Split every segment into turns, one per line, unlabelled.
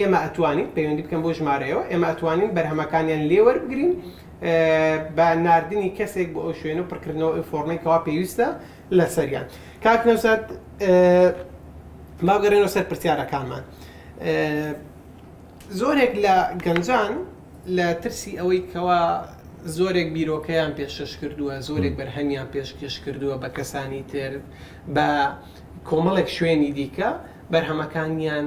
ئێمە ئەتوانین پەیوەندی بکەن بۆ ژمارەیەوە ئێمە ئەتوانین بەرهەمەکانیان لێ وەربگرین بە ناردنی کەسێک بۆ ئەو شوێنە پڕکردنەوە ئەو فۆرمەی کەوا پێویستە لەسەریان کاک نەوزاد باگەڕێنەوە سەر پرسیارەکانمان زۆرێک لە گەنجان لە ترسی ئەوەی کەوا زۆرێک بیرۆکەیان پێشش کردووە زۆرێک بەرهەمیان پێشکەش کردووە بە کەسانی تر بە کۆمەڵێک شوێنی دیکە بەرهەمەکانیان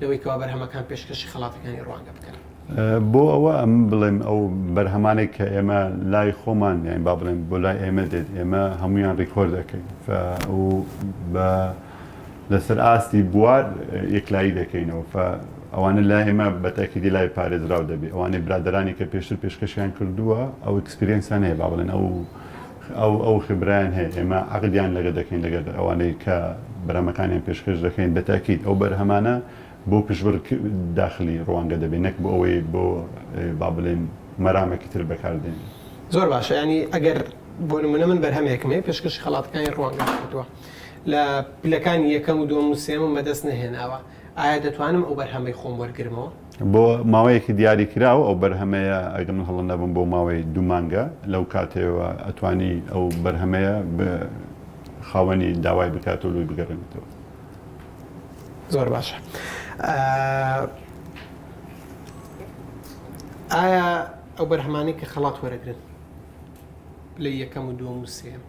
لەوەی کەوا بەرهەمەکان پێشکەشی خەڵاتەکانی
ڕوانگە بکەن. بۆ ئەوە ئەم بڵێم ئەو بەرهەمانێک کە ئێمە لای خۆمان یان با بڵێم بۆ لای ئێمە دێت ئێمە هەمویان ڕیکۆرد دەکەین و بە لەسەر ئاستی بوار یەکلایی دەکەینەوە ئەوانە لای ئێمە بەتاکیدی لای پارێزراو دەبێت ئەوانەی برادرانی کە پێشتر پێشکەشیان کردووە ئەو ئکسپرینسانەیە با بڵێن ئەو ئەو ئەو خبرەیان هەیە ئێمە عەقدیان لەگە دەکەین لەگەر ئەوانەی کە بەرهەمەکانیان پێشکەش دەکەین بە تاکید ئەو بەرهەمانە بۆ پشبڕ ک داخلی ڕوانگە دەبێ نەک بۆ ئەوەی بۆ با بڵێین مەرامەکی تر بەکار دێنێ. زۆر باشە
یانی ئەگەر بۆ نمونە من بەرهەمێکم هەیە پێشکەشی خەڵاتەکانی ڕوانگەم کردوە لە پلەکانی یەکەم و دوەم و سێم و مە دەست نەهێناوە ئایا دەتوانم ئەو بەرهەمەی خۆم وەرگرمەوە؟ بۆ ماوەیەکی
دیاریکراو ئەو بەرهەمەیە ئەگەر من هەڵە نەبم بۆ ماوەی دوو مانگە لەو کاتەوە ئەتوانی ئەو بەرهەمەیە خاوەنی داوای بکاتەوە لۆی بگەرێنێتەوە.
زۆر باشە ئایا ئەو بەرهەمانەی کە خەڵات وەرەگرن لە یەکەم و دووەم و سێیەم.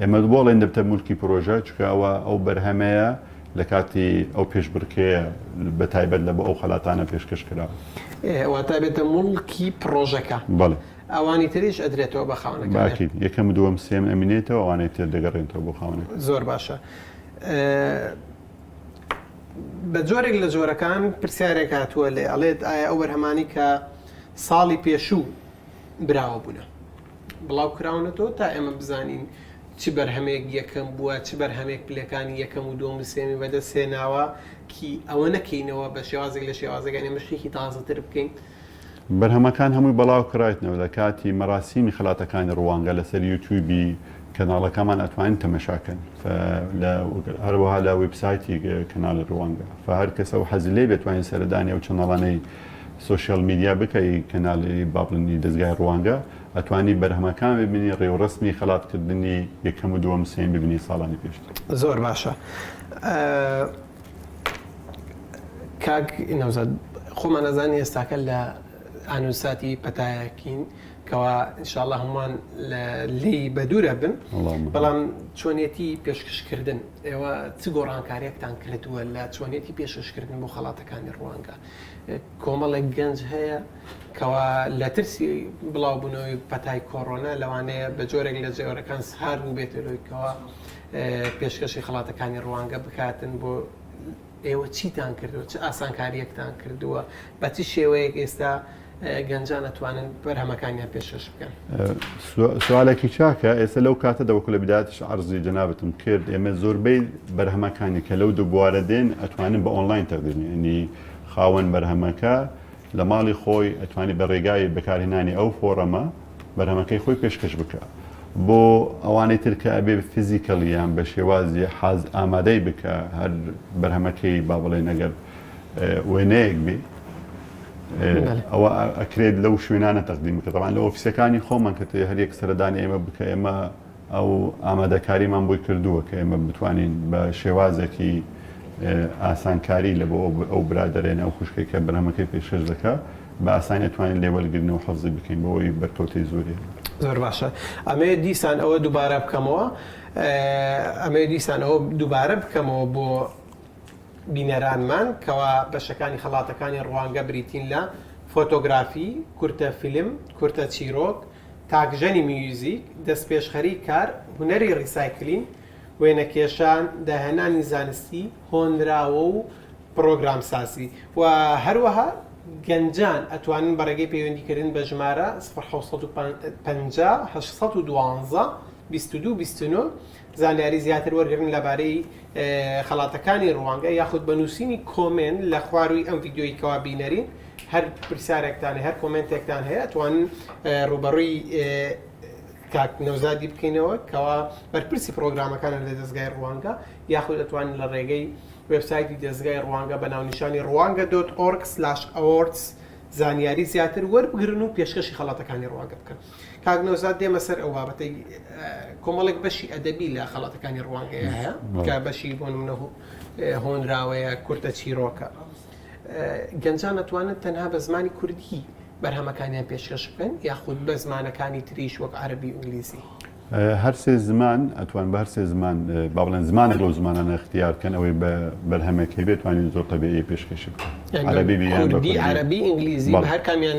ئێمە دبۆڵێن دەبتە مولکی پرۆژە چونکە ئەوە ئەو بەرهەمەیە لە کاتی ئەو پێشبڕکێیە بە تایبەت لە بۆ ئەو خەلاتانە پێشکەش کرا. واتە ئەبێتە
موڵکی پرۆژەکە. بەڵێ. ئەوانی
تریش
ئەدرێتەوە بە خاوەنەکەی. باکین یەکەم دووەم
سێم ئەمینێتەوە ئەوانەی تر دەگەڕێنتەوە بۆ خاوەنەکەی. زۆر باشە.
بە جۆرێک لە جۆرەکان پرسیارێک هاتووە لێ ئەڵێت ئایا ئەو بەرهەمانەی کە ساڵی پێشوو براوە بوونە. بڵاوکراونەتەوە تا ئێمە بزانین چ بەرهەمێک یەکەم بووە چ بەرهەمێک پلەکانی یەکەم و دووەم و سێمی بەدەست هێناوە کی ئەوە نەکەینەوە بە شێوازێک لە شێوازەکان ئێمە شتێکی تازەتر بکەین بەرهەمەکان
هەمووی بەڵاو کراویتنەوە لە کاتی مەراسیمی خەلاتەکانی ڕوانگە لەسەر یوتیوبی کەناڵەکەمان ئەتوانین تەمەشاکەن هەروەها لە ویبسایتی کەناڵی ڕوانگە فە هەر کەسە و حەزی لێ بێت توانین سەردانی ئەو چەناڵانەی سۆشیال میدیا بکەی کەنالی با بڵێنی دەزگای ڕوانگە ئەتوانی بەرهەمەکان ببینی ڕێوڕەسمی خەلات کردنی یەکەم و دووەم سێم ببینی ساڵانی پێشتر. زۆر باشە
کاک نەوزاد خۆمان ئەزانی ئێستاکە لە ئانوساتی پەتایەکین کەوا انشاءاللە هەمووان لی بەدورە بن بەڵام چۆنێتی پێشکەشکردن ئێوە چ گۆڕانکارێکتان کردووە لە چۆنێتی پێشکەشکردن بۆ خەڵاتەکانی ڕوانگە کۆمەڵێک گەنج هەیە کەوا لە ترسی بڵاوبوونەوەی پەتای کۆڕۆنا لەوانەیە بە جۆرێک لە جێۆرەکان سهار بووبێتە لۆیکەوە پێشکەشی خڵاتەکانی ڕوانگە بکاتن بۆ ئێوە چیتان کردووە چ ئاسانکاریەکتان کردووە بە چ شێوەیەک ئێستا گەنجان ئەتوانن بەرهەمەکانیان
پێشکەش بکەن. سوالێکی چاکە، ئێستا لەو کاتەدا وەکو لە بیدایەتیش عەرزی جەنابتم کرد، ئێمە زۆربەی بەرهەمەکانی کە لەو دوو بوارە دێن ئەتوانن بە ئۆنڵاین تەقدیم بکەین، یەنی خاوەن بەرهەمەکە لە ماڵی خۆی ئەتوانی بە رێگای بەکارهێنانی ئەو فۆڕەمە بەرهەمەکەی خۆی پێشکەش بکا. بۆ ئەوانەی تر کە ئەبێ فیزیکەڵی یان بە شێوازی حاز ئامادەی بکا هەر بەرهەمەکەی با بڵێین ئەگەر وێنەیەک بێ ئەوە ئەکرێت لەو شوێنانە تەقدیم بکە تەوان لە ئۆفیسەکانی خۆمان کە تێ هەریەک سەردانی ئێمە بکە ئێمە ئەو ئامادەکاریمان بۆی کردووە کە ئێمە بتوانین بە شێوازێکی ئاسانکاری لە بۆ ئەو برادرێنە ئەو خوشکی کە بەرهەمەکەی پێشش دەکە بە ئاسانی توانین لێوەرگرن و حەفزی بکەین بەوەی بەرکەوتی زۆری زۆر باشە
ئەمێ دیسان ئەوە دووبارە بکەمەوە ئەمێ دیسان ئەوە دووبارە بکەمەوە بۆ بینەرانمان کەوا بەشەکانی خەڵاتەکانی ڕوانگە بریتین لە، فۆتۆگرافی، کورتە فیلم، کورتە چیرۆک، تاکژەنی میوزیک، دەستپێشخەریی کار، هونەری ڕیسایکلین، وێنەکێشان، داهێنانی زانستی، هۆنراوە و پڕۆگرامسازی و هەروەها گەنجان ئەتوانن بە ڕێگەی پەیوەندیکردن بە ژمارە سفر حەوت سەد و پەنجا هەشت سەد و دوازدە بیست و دوو بیست و نۆ زانیاری زیاتر وەرگرن لەبارەی خەڵاتەکانی ڕوانگە یاخود بە نووسینی کۆمێنت لە خوارووی ئەم ڤیددیۆی کەوا بینەرین هەر پرسیارێکتان هەر کۆمنتێکتان هەیە ئەتوانن ڕوبەڕووی کاک نەوزادی بکەینەوە کەوا بەرپرسی پرۆگرامەکانە لە دەستگای ڕوانگە یاخود ئەتوانن لە ڕێگەی وبسایتی دەستگای ڕوانگە بە ناونیشانی ڕوانگە دۆت ئۆرکس لاش ئەوۆرتس زانیاری زیاتر وەربگرن و پێشکەشی خەڵاتەکانی ڕوانگە بکەن. کاک نەوزاد دێمە سەر ئەو بابەتەی کۆمەڵێک بەشی ئەدەبی لە خەڵاتەکانی ڕوانگەیە هەیە کە بەشی بۆ منە هۆنراوەیە کورتە چیرۆکە گەنجان نەتوانن تەنها بە زمانی کوردی بەرهەمەکانیان پێشکەش بکەن یاخود بە زمانەکانی تریش وەک عربی ئینگلیزی هەرسێ
زمان ئەتوان بە هەرسێ زمان با بڵێن زمانێک لەو زمانانە اختیار بکەن ئەوەی بە بەرهەمێک هەبێت توانین زۆر تەبێ پێشکەشی بکەن عربی
عربی ئینگلیزی هەر کامیان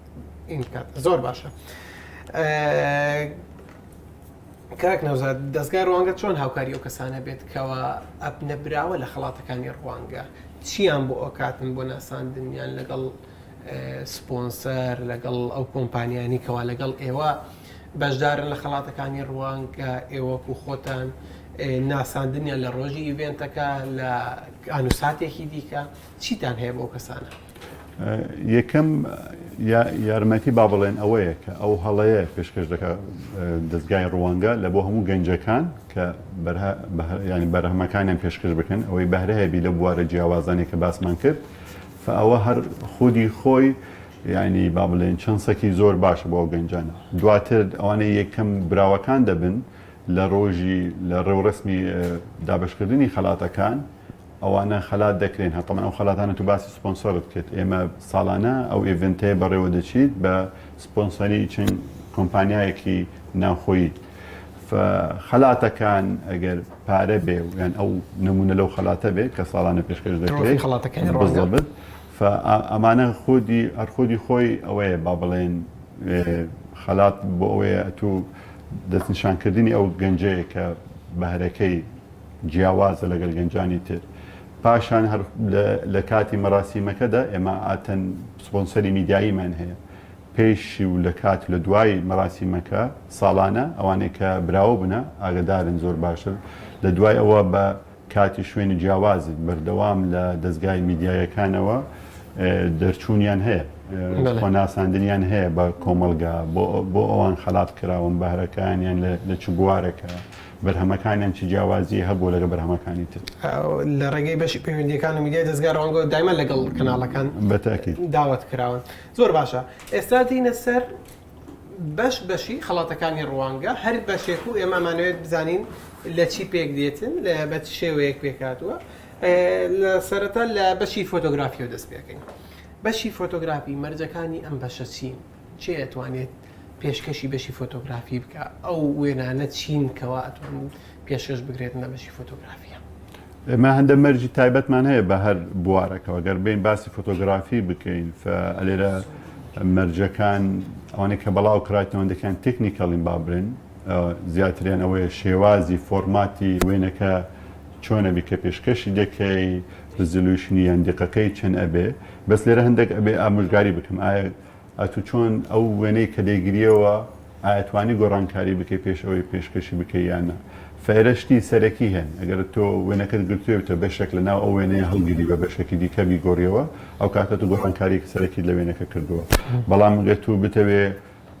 زۆر باشە کاک نەوزاد دەستگای ڕوانگە چۆن هاوکاری ئەو کەسانە بێت کەەوە ئەپ نەبراوە لە خڵاتەکانی ڕوانگە چیان بۆ ئەوکاتن بۆ ناساندنیان لەگەڵ سپۆنسەر لەگەڵ ئەو کۆمپانیانی کەوا لەگەڵ ئێوە بەشدارن لە خڵاتەکانی ڕوانگە ئێوەک و خۆتان ناساندنیان لە ڕۆژی ئیڤێنتەکە لە ئەنووساتێکی دیکە چیتان هەیە بۆ کەسانە
یەکەم یارمەتی با بڵێن ئەوەیە کە ئەو هەڵەیە پێشکەش دەکە دەستگای ڕوانگە لە بۆ هەموو گەنجەکان کە ینی بەرهەمەکانیان پێشکەش بکەن ئەوەی بەهرەیەبی لە بوارە جیاوازانێ کە باسمان کرد ئەوە هەر خودی خۆی ینی با بڵێن چەند سەکی زۆر باشە بۆ گەنجان دواتر ئەوانەی یەکەم براوەکان دەبن لە ڕۆژی لە ڕێوڕسمی دابشکردنی خەلاتەکان ئەوانە خەلات دەکرێن هەتەمەن ئەو خەلاتانە تو باسی سپۆنسۆرت کرد ئێمە سالانە ئەو ئێڤێنتەیە بەڕێوە دەچیت بە سپۆنسەری چەند کۆمپانیایەکی ناوخۆیی خەلاتەکان ئەگەر پارە بێ و یان ئەو نمونە لەو خەلاتە بێت کە ساڵانە پێشکەش دەکرێت خەڵاتەکەی بڵبت ئەمانە خودی هەرخودی خۆی ئەوەیە با بڵێن خەلات بۆ ئەوەیە تو دەستنیشانکردنی ئەو گەنجەیە کە بەهرەکەی جیاوازە لەگەل گەنجانی تر پاشان هەر لە کاتی مەراسیمەکەدا ئێمە ئاتەن سپۆنسەری میدیاییمان هەیە پێشی و لە کات لە دوای مەراسیمەکە ساڵانە ئەوانەی کە براوە بنە ئاگدارن زۆر باشتر لە دوای ئەوە بە کاتی شوێنی جیاوازی بەردەوام لە دەستگای میدیایەکانەوە دەرچوونیان هەیە خۆناساندنیان هەیە بە کۆمەلگا بۆ ئەوان خەلات کراون بەهرەکانیان لە چ بوارەکە بەرهەمەکانیان چ جیاوازیی هەبووە لەگەڵ بەرهەمەکانی تر؟ لە ڕێگەی
بەشی پەیوەندییەکان و میدیای دەزگا ڕوانگە دایمە لەگەڵ کەناڵەکان داوەت
کراون.
زۆر باشە ئێستا دێینە سەر بەش بەشی خەڵاتەکانی ڕوانگە هەر بەشێک و ئێمە ئەمانەوێت بزانین لە چی پێک دێتن لە بە چ شێوەیەک پێکاتوە لە سەرەتا لە بەشی فۆتۆگرافیەوە دەست پێکەین بەشی فۆتۆگرافی مەرجەکانی ئەم بەشە چین؟ کێ ئەتوانێت پێشکەشی بەشی فۆتۆگرافی بکە ئەو وێنانە چین کەوا ئەتوان پێشکەش بگرێتنە بەشی فۆتۆگرافیە ئێمە هەندە
مەرجی تایبەتمان هەیە بە هەر بوارەکەەوە گەر بین باسی فۆتۆگرافی بکەین ئەلێرە مەرجەکان ئەوانەی کە بەڵاو کراتەوەندەکان تەکنیکەڵین با برن زیاتریان ئەوەیە شێوازی فۆرماتی وێنەکە چۆنە بیکە پێشکەشی دەکەی رزلوشنی یان دقەکەی چەند ئەبێ بەس لێرە هەندێک ئەبێ ئامۆژگاری بکەم ئایا ئەتو چۆن ئەو وێنەی کە دەیگریەوە ئایتوانی گۆڕانکاری بکەی پێش ئەوەی پێشکەشی بکەی یان نا فەیرە شتی سەرەکی هەن ئەگەر تۆ وێنەکەت گرتویەوتە بەشێک لە ناو ئەو وێنەیە هەڵگری بە بەشێکی دیکە بیگۆریەوە ئەو کاتە تو گۆڕانکاریکی سەرەکیت لە وێنەکە کردووە بەڵام ئەگەر تو بتەوێ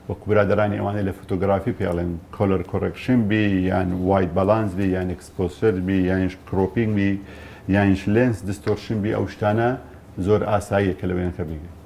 وەکو برادەرانی ئەوانەی لە فۆتۆگرافی پێ ئەڵێن کۆلەر کۆڕێکشن بی یان وایت بەڵانس بی یان ئێکسپۆسەر بی یانیش کرۆپینگ بی یانیش لێنس دستۆرشن بی ئەو شتانە زۆر ئاساییە کە لە وێنەکە بیگری.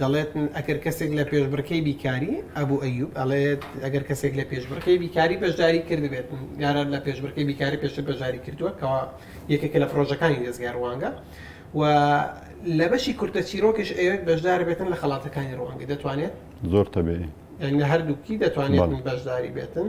دەڵێت ئەگەر کەسێک لە پێشبڕکێی بیکاری، ئەبو ئەیوب ئەڵێت ئەگەر کەسێک لە پێشبڕکێی بیکاری بەشداری کردبێت، یاران لە پێشبڕکێی بیکاری پێشتر بەشداری کردووە کەوا یەکێکە لە پڕۆژەکانی دەزگای ڕوانگە و لە بەشی کورتە چیرۆکیش ئەیەوێت بەشدار بێتن لە خەڵاتەکانی ڕوانگە دەتوانێت زۆر تەبێ
لە هەردووکی
دەتوانێت بەشداری بێتن.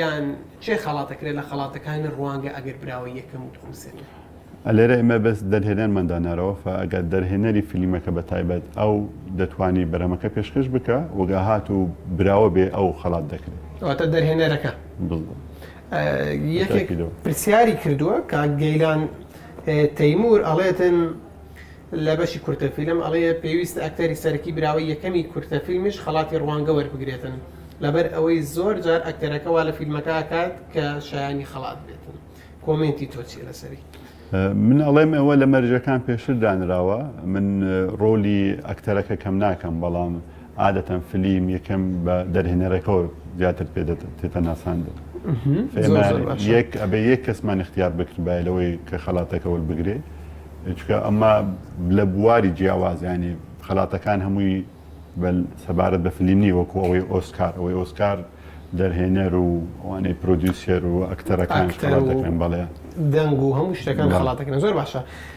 یان کێ خەڵاتەکرێت لە خەڵاتەکانی ڕوانگە ئەگەر براوە یەکەم و دووەم سێنەر؟ لێرە ئێمە
بەس دەرهێنەرمان دانارەوە فە ئەگەر دەرهێنەری فلیمەکە بە تایبەت ئەو دەتوانی بەرەمەکە پێشکەش بکە وەگا هات و براوە بێ ئەو خەڵات دەکرێت ئەواتە دەرهێنەرەکە
یەکێک پرسیاری کردووە کاک گەیلان تەیمور ئەڵێتن لە بەشی کورتە فیلم ئەڵێ پێویستە ئەکتەری سەرەکی براوەی یەکەمی کورتە فیلمیش خەڵاتی ڕوانگە وەربگرێتن لەبەر ئەوەی زۆر جار ئەکتەرەکە وا لە فیلمەکە ئەکات کە شایانی خەڵات بێتن کۆمێنتی تۆ چیە لەسەری؟ من
ئەڵێم ئەوە لە مەرجەکان پێشتر دانراوە من ڕۆلی ئەکتەرەکە کەم ناکەم بەڵام عادەتەن فلیم یەکەم بە دەرهێنەرەکەوە زیاتر پێ دێتە ناساندن یەک ئەبێ یەک کەسمان اختیار بکردبایە لەوەی کە خەڵاتەکە وەربگرێ چکە ئەمە لە بواری جیاوازیانی خەڵاتەکان هەمووی سەبارەت بە فلیمی وەکو ئەوەی ئۆسکار ئەوەی ئۆسکار دەرهێنەر و ئەوانەی پرۆدیوسێر و ئەکتەرەکان دەکەن بەڵێ دەنگ و هەموو شتەکان خڵاتەکەن
زۆر باشە.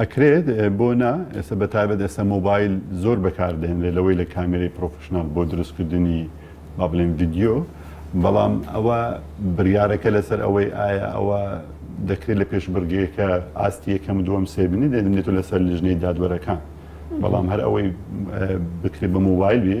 ئەکرێت
بۆ نا ئێستا بەتابەت ئێستا مۆبایل زۆر بەکاردێنرێت لەوەی لە کامێری پرۆفشنال بۆ دروستکردنی با بڵێن ڤیددیو بەڵام ئەوە بڕارەکە لەسەر ئەوەی ئایا ئەوە دەکرێت لە پێش بڕگەیەکە ئاستی یەکەم دووەم سێبنی دێنێت و لەسەر لژنەی دادوەرەکان بەڵام هەر ئەوەی بکرێت بە مۆبایل بێ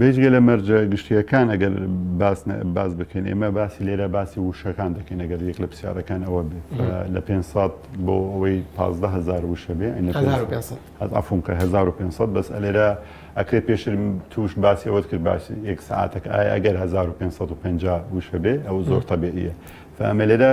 بێجگە لە مەرجە گشتییەکان ئەگەر باس بکەین ئێمە باسی لێرە باسی وشەکان دەکەین ئەگەر یەک لە پرسیارەکان ئەوە بێت لە 500 بۆ ئەوەی 15000 وشە بێ ئەفونکە 1500 بەس ئەلێرە ئەکرێت پێشتر توش باسی ئەوەت کرد باش یەک ساعتەکە ئایا ئەگەر 1550 وشە بێ ئەو زۆر تەبێ ئەمە لێرە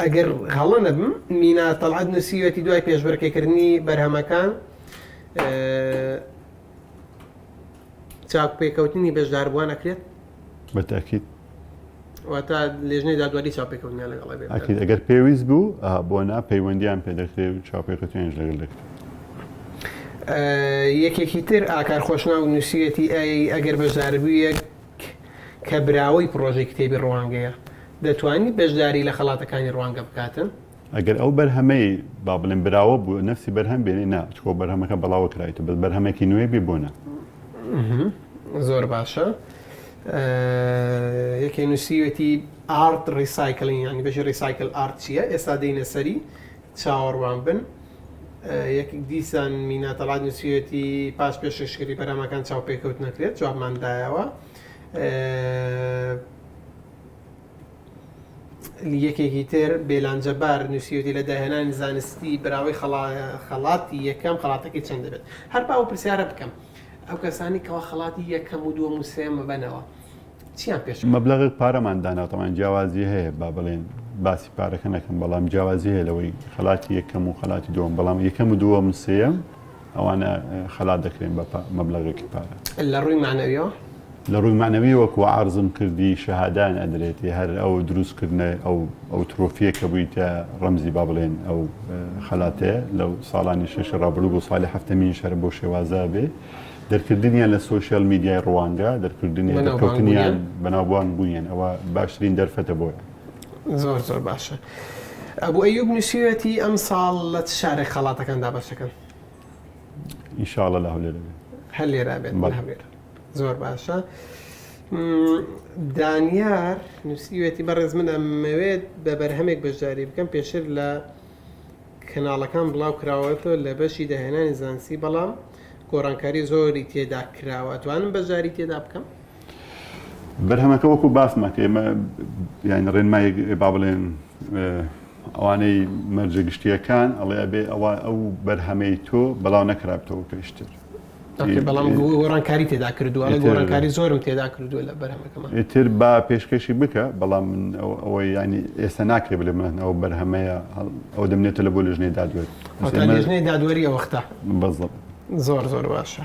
ئەگەر هەڵە نەبم مینا تەڵعات نووسیوەتی دوای پێشبەرکەکردنی بەرهەمەکان چاک پێکەوتنی بەشداربووان ئەکرێت بە تاکیت واتە لێژنەی دادواری چاپێکەوتنیان لەگەڵ ئەکید ئەگەر پێویست بوو
بۆ نا پەیوەندیان پێ دەکرێ و چاپێکەوتنیانش لەگەڵ دەکرێت
یەکێکی تر ئاکار خۆشنا و نووسیەتی ئەی ئەگەر بەشداربوویەک کە براوەی پرۆژەی کتێبی ڕوانگەیە دەتوانانی بەشداری لە خەڵاتەکانی ڕوانگە بکاتن ئەگەر ئەو بەرهەمەی
با بڵێن براوە بوو نەفسی بەرهەم بێنێ نا چکۆ بەرهەمەکە بەڵاوە کرایتە بەس بەرهەمێکی نوێ بێ بۆ نا.
زۆر باشە یەکێ نووسیوێتی ئارد ڕیسایکلین ینی بەژی ڕیسایکل ئارد چییە ئێستا دێنە سەری چاوەڕوان بن. یەک دیسان میناتەڵات نووسیەتی پاش پێششکری بەرامەکان چاو پێکەوت نەکرێت جوابماندایەوە یەکێکی تر، بێلان جەبار، نووسیویەتی لە داهێنانی زانستی براوەی خەڵاتی یەکەم خەڵاتەکەی چەند دەبێت؟ هەر با ئەو پرسیارە بکەم، ئەو کەسانەی کەوا خەڵاتی یەکەم و دووەم و سێیەم ببەنەوە چیان پێش کەوت؟ مەبلەغێک پارەمان دانا،
تەبعەن جیاوازی هەیە با بڵێین باسی پارەکە نەکەم، بەڵام جیاوازی هەیە لەوەی خەڵاتی یەکەم و خەڵاتی دووەم، بەڵام یەکەم و دووەم و سێیەم، ئەوانە خەلات دەکرێن بە مەبلەغێکی پارە.
لە ڕووی مەعنەویەوە؟
لە ڕووی مەعنەوی وەکو عەرزم کردی شەهادان ئەدرێتی هەر ئەو دروستکردنە ئەو ئەو ترۆفیە کە بوویتە ڕەمزی با بڵێن ئەو خەلاتەیە لەو ساڵانی شەشی ڕابروو بۆ سالی هەفتەمین شەر بۆ شێوازە بێ دەرکردنیان لە سوۆشیال میدیای ڕوانگە دەرکردنی دەکەوتنیان بەناوبان بووین ئەوە باشترین دەرفەتە بۆیە. زۆر زۆر
باشە ئەبو ئەیوب نوسیوێتی ئەمساڵ لە چ شارێک خەڵاتەکان دابەشەکەن
ئینشاڵە لە هەولێر دەبێت هەر لێرا بێت بەڵێ.
هەولێر زۆر باشە م، دانیار نوسیوێتی بەڕێز من ئەمەوێت بە بەرهەمێک بەشداری بکەم پێشتر لە کەناڵەکان بڵاو کراوەتەوە لە بەشی داهێنانی زانستی بەڵام گۆڕانکاری زۆری تێدا کراوە ئەتوانم بەشداری تێدا بکەم
بەرهەمەکە وەکو باسمان کرد ئێمە یانی ڕێنمای با بڵێن ئەوانەی مەرجە گشتیەکان ئەڵێ ئەبێ ئەوە ئەو بەرهەمەی تۆ بەڵاو نەکرابتەوە پێشتر بەڵام
گۆڕانکاری تێدا کردووە گۆڕانکاری زۆرم تێدا کردووە لە بەرهەمەکەم تر با پێشکەشی
بکە بەڵام من ئەوەی ینی ئێستا ناکرێ بلێ من ئەو بەرهەمەیە ئەو دەمنێتە لە بۆ لژنەی دادوەری دادوەری
ئەوەختە بەزڵ
زۆر زۆر
باشە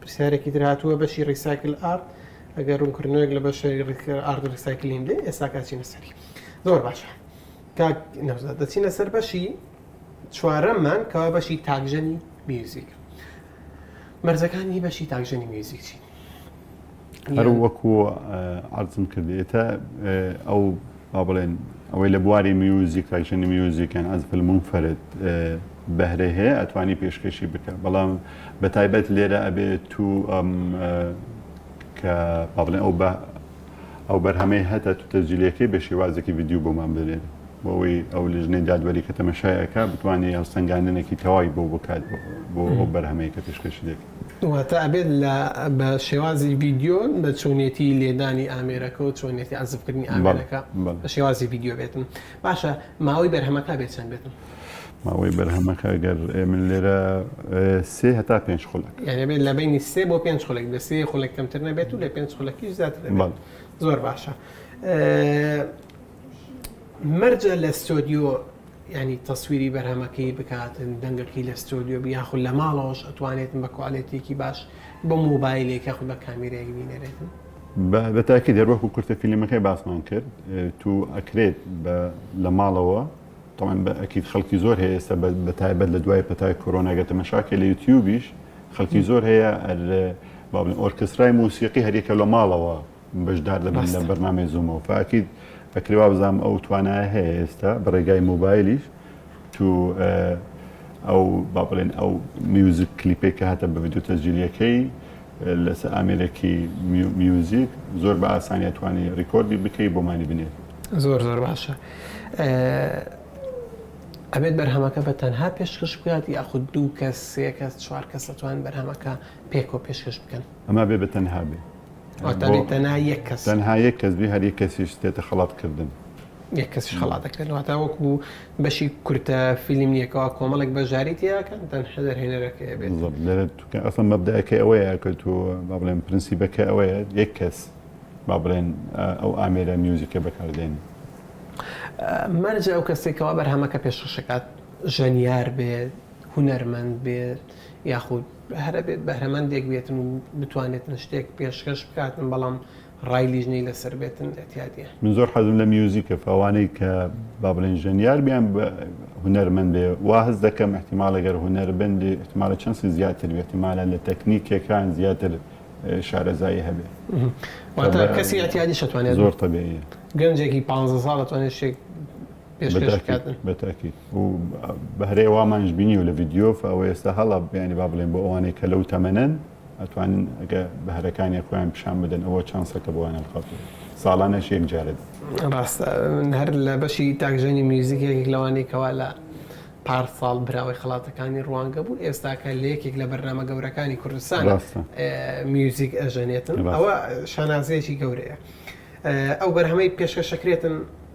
پرسیارێکی تر هاتووە بەشی ڕیساکل ئارد ئەگەر ڕوونکردنەوەێک لە بەشەری ئارد ڕیساکلین دێ ئێستا کاچینە سەری زۆر باشە کاک نەوزاد دەچینە سەر بەشی چوارەممان کەوا بەشی تاکژەنی میوزیک مەرزەکانی بەشی تاکژەنی میوزیک چین
هەر وەکو عرضم کرد ئێتا ئەو با بڵێن ئەوەی لە بواری میوزیک تاکشنی میوزیکیان ئەز فلمون فرد بەهرە هەیە ئەتوانی پێشکەشی بکە بەڵام بە تایبەت لێرە ئەبێت تو ئەم کە با بڵێن ئەو بە ئەو بەرهەمەی هەتا تو تەجلیەکەی بە شێوازێکی ڤیددیو بۆمان بنێن بۆەوەی ئەو لژنەی دادوەری کە تەمەشایەکە بتوانێت هەڵسەنگاندنێکی تەواوی بۆ بکات بۆ ئەو بەرهەمەیە کە پێشکەشی دەکەن واتە ئەبێت
لە بە شێوازی ڤیدیۆ بە چۆنیەتی لێدانی ئامێرەکە و چۆنیەتی عەزفکردنی ئامێرەکە بە شێوازی ڤیددیو بێتن باشە ماوەی بەرهەمەکە بێت چەند بێتن ماوەی
بەرهەمەکە گەر من لێرە سێ هەتا پێ خولک یعنی بێت لە بینی
سێ بۆ پێ خولک لە سێ خولک کەمتر نەبێت و لە پێ خولەکیش زیاتر زۆر باشە مەرجە لە ستۆدیۆ یانی تەسویری بەرهەمەکەی بکاتن دەنگەکەی لە ستۆدیۆ بی یاخود لە ماڵەوەش ئەتوانێتن بە کوالێتیەکی باش بە مۆبایلێک یاخود بە کامیرایەک بینەرێتن. بە بە تاکید
هەر وەکو کورتە فیلمەکەی باسمان کرد تو ئەکرێت بە لە ماڵەوە تەمان بە ئەکید خەڵکی زۆر هەیە ئێستا بە بە تایبەت لە دوای پەتای کۆرۆنا گە تەمەشا کە لە یوتیوبیش خەڵکی زۆر هەیە ئەر با بڵێن ئۆرکسترای موسیقی هەر یەکە لە ماڵەوە بەشدار دەبن لە بەرنامەی زوومەوە فاکیت ئەکری وابزانام ئەو توانایە هەیە ئێستا بە ڕێگای مۆبایلیش تو ئەو با بڵێن ئەو میوزیک کلیپێک کە هاتە بە ڤیددیو تەجیلیەکەی لەس ئامێرێکی میوزیک زۆر بە ئاسانیە توانی ڕیکۆردی بکەی بۆمانی بنێت زۆر زۆر باشە
ئەبێت بەرهەمەکە بە تەنها پێشکەش بکات یاخود دوو کەس سێ کەس چوار کەس دەتوان بەرهەمەکە پێکۆ پێشکەش بکەن ئەما بێ بە تەنها
بێ واتانێ تەنها
یەک کەس تەنها یەک کەس بێ هەر
یەک کەسیش دێتە خەڵات کردن. یەک کەسیش
خەڵات دەکرێت واتە وەکو بەشی کورتە فیلم نییە کەوا کۆمەڵێک بەشداری تێدا بکەن تەنها دەرهێنەرەکەیە بێت. بالضبط لێرە تو کە ئەسڵەن
مەبدەئەکەی ئەوەیە کە تو با بڵێن پرنسیبەکەی ئەوەیە یەک کەس با بڵێن ئەو ئامێرە میوزیکە بەکاردێنێ.
مەرجە ئەو کەسەی کەوا بەرهەمەکە پێشکەش ئەکات ژەنیار بێت، هونەرمەند بێت، یاخود هەر ئەبێت بەهرەمەندێک بێتن و بتوانێتن شتێک پێشکەش بکاتن بەڵام ڕای لیژنەی لەسەر بێتن ئەتیادیە. من زۆر حەزم لە
میوزیکە فەوانەی کە با بڵێن ژەنیار بیان هونەرمەند بێ وا هەست دەکەم احتیمالە گەر هونەربند احتیمالە چەنسی زیاتر بێت احتیمالە لە تەکنیکەکان زیاتر شارەزایی هەبێت
کەسی ئەتیادی شتوانێت زۆر تەبێت
گەنجێکی پ
ساڵ دەتوانێت شتێک پێشکەش بکاتن بەتاکیت و
بەهرەیە وامانش بینی و لە ڤیددیۆف ئەوە ئێستا هەڵە بیانی با بڵێن بۆ ئەوانەی کە لەو تەمەەن ئەتوانن ئەگە بەهرەکانی خۆیان پیشان بدەن ئەوە چانسەکە بۆیان هەڵخات ساڵانەش یەک جارێت ڕاستە
من هەر لە بەشی تاکژەنی میوزیک یەکێک لەوانەی کەوا لە پار ساڵ براوەی خڵاتەکانی ڕوانگە بوو ئێستاکە لە یەکێک لە بەرنامە گەورەکانی کوردستان میوزیک ئەژەنێتن ئەوە شانازیەکی گەورەیە ئەو بەرهەمەی پێشکەشەکرێتن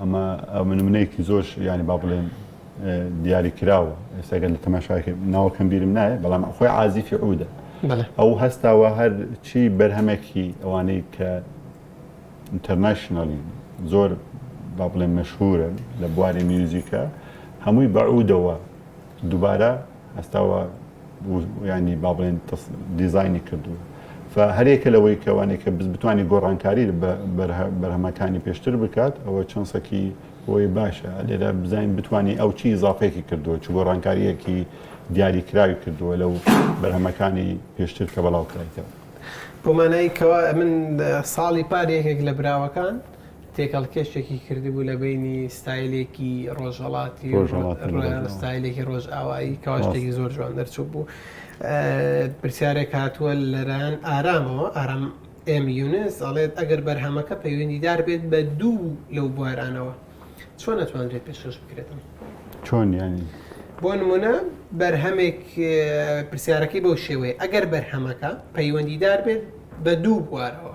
ئەمە نمونەیەکی زۆر یانی با بڵێن دیاری کراوە ئێستا گەر لە تەماشاکە ناوەکەم بیرم نایە بەڵام خۆی عازیفی عودە ئەو هەستاوە هەر چی بەرهەمێکی ئەوانەی کە ئینتەرنشننالی زۆر با بڵێن مەشهورن لە بواری میوزیکە هەمووی بەعودەوە دووبارە ئەستاوە یانی با بڵێن دیزایانی کردووە هەرێکە لەوەی کەوانێک کە بتوانانی گۆڕانکاری بەرهەمەکانی پێشتر بکات ئەوە چۆنسەکی بۆی باشە لێرە بزانین بتانی ئەو چی زافێکی کردووە چ گۆڕانکاریەکی دیاری کراوی کردووە لەو بەرهەمەکانی پێشتر کە بەڵاوکرایتەوە بۆمانایی
کەوا من ساڵی پار یەکێک لە براوەکان تێکەڵکێشێکی کردبوو لە بەینی ستایلێکی ڕۆژهەڵاتی و ستایلێکی ڕۆژئاوایی کەوا شتێکی زۆر جوان دەرچوو بوو پرسیارێک هاتووە لەران ئارامەوە ئارام ئێم یونس ئەڵێت ئەگەر بەرهەمەکە پەیوەندیدار بێت بە دوو لەو بوارانەوە چۆن نەتوانرێت پێشکەش بکرێتم چۆن ینی
بۆ نمونە
بەرهەمێک پرسیارەکەی بەو شێوەیە ئەگەر بەرهەمەکە پەیوەندیدار بێت بە دوو بوارەوە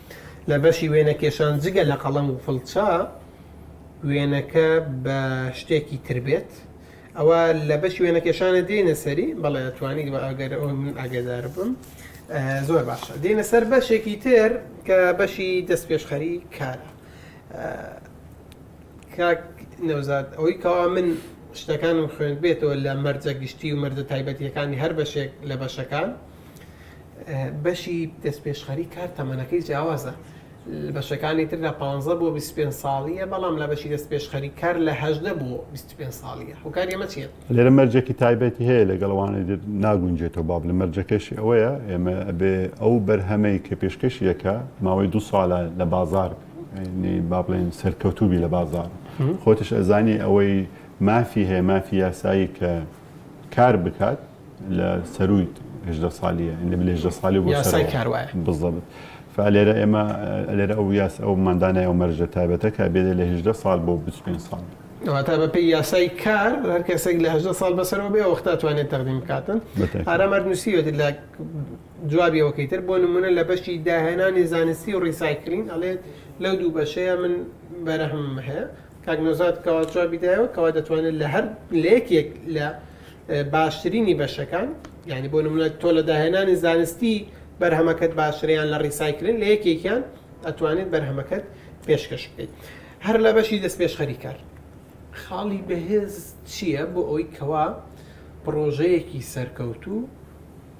لە بەشی وێنەکێشان جگە لە قەڵەم و فڵچە وێنەکە بە شتێکی تر بێت ئەوە لە بەشی وێنەکێشانە دێنە سەری بەڵێ توانیت بە ئەگەر ئەو من ئاگادار بم زۆر باشە دێنە سەر بەشێکی تر کە بەشی دەست پێشخەری کارە کاک نەوزاد ئەوەی کەوا من شتەکانم خوێند بێتەوە لە مەرجە گشتی و مەرجە تایبەتیەکانی هەر بەشێک لە بەشەکان بەشی دەستپێشخەری کار تەمەنەکەی جیاوازە، لە بەشەکانی تردا پانزە بۆ بیست و پێنج ساڵییە، بەڵام لە بەشی دەستپێشخەری کار لە هەژدە بۆ بیست و پێنج ساڵییە. هۆکاری ئەمە چییە؟ لێرە مەرجێکی
تایبەتی هەیە لەگەڵ ئەوانەی تر ناگونجێتەوە، بابلێم مەرجەکەشی ئەوەیە ئێمە ئەبێ ئەو بەرهەمەی کە پێشکەشی دەکا ماوەی دوو ساڵە لە بازاڕ بابلێن سەرکەوتوبی لە بازاڕ خۆتش ئەزانی ئەوەی مافی هەیە مافی یاسایی کە کار بکات لە سەرووی هێژدە سالیە لە بلێ هێژدە سالی بۆ یاسای سەرەوە. کار وایە بالضبط فلێرە ئێمە لێرە ئەو یاس ئەو مادانای ئەو مەرجە تایبەتە کە بێت لە هێژدە سال بۆ 25 سال واتە بەپێی
یاسای کار هەر کەسێک لە هەژدە ساڵ بەسەرەوە بێ وەختا توانێت تەقدیم بکاتن بەتاکی. ئارام هەر نووسیوێت لە جوابیەوەکەی تر بۆ نمونە لە بەشی داهێنانی زانستی و ڕیسایکلین ئەڵێت لەو دوو بەشەیە من بەرەهمم هەیە کاک نەوزاد کەوا جوابی دایەوە کەوا دەتوانێت لە هەر لە یەکێک لە باشترینی بەشەکان یعنی بۆ نمونە تۆ لە داهێنانی زانستی بەرهەمەکەت باشتریان لە ڕیسایکلن لە یەکێکیان ئەتوانێت بەرهەمەکەت پێشکەش بکەیت هەر لە بەشی دەست پێش خەریکار خاڵی بەهێز چییە بۆ ئەوی کەوا پڕۆژەیەکی سەرکەوتوو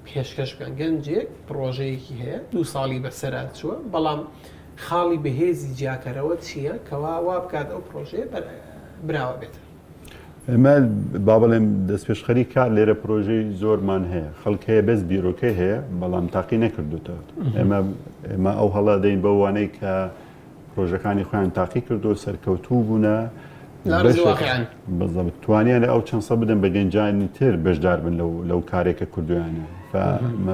پێشکەش بکەن گەنجێک پڕۆژەیەکی هەیە دوو ساڵی بەسەرا چووە بەڵام خاڵی بەهێزی جیاکەرەوە چییە کەوا وا بکات ئەو پرۆژەیە براوە بێت. ئێمە
با بڵێم دەست پێشخەری کار لێرە پرۆژەی زۆرمان هەیە خەڵک هەیە بەس بیرۆکەی هەیە بەڵام تاقی نەکردوتەوە ئێمە ئێمە ئەو هەڵا دەین بەوانەی کە پرۆژەکانی خۆیان تاقی کردو سەرکەوتوو بوونە بەزەبت توانیان ئەو چەندسە بدەن بە گەنجانی تر بەشدار بن لەو کارێکە کردویانە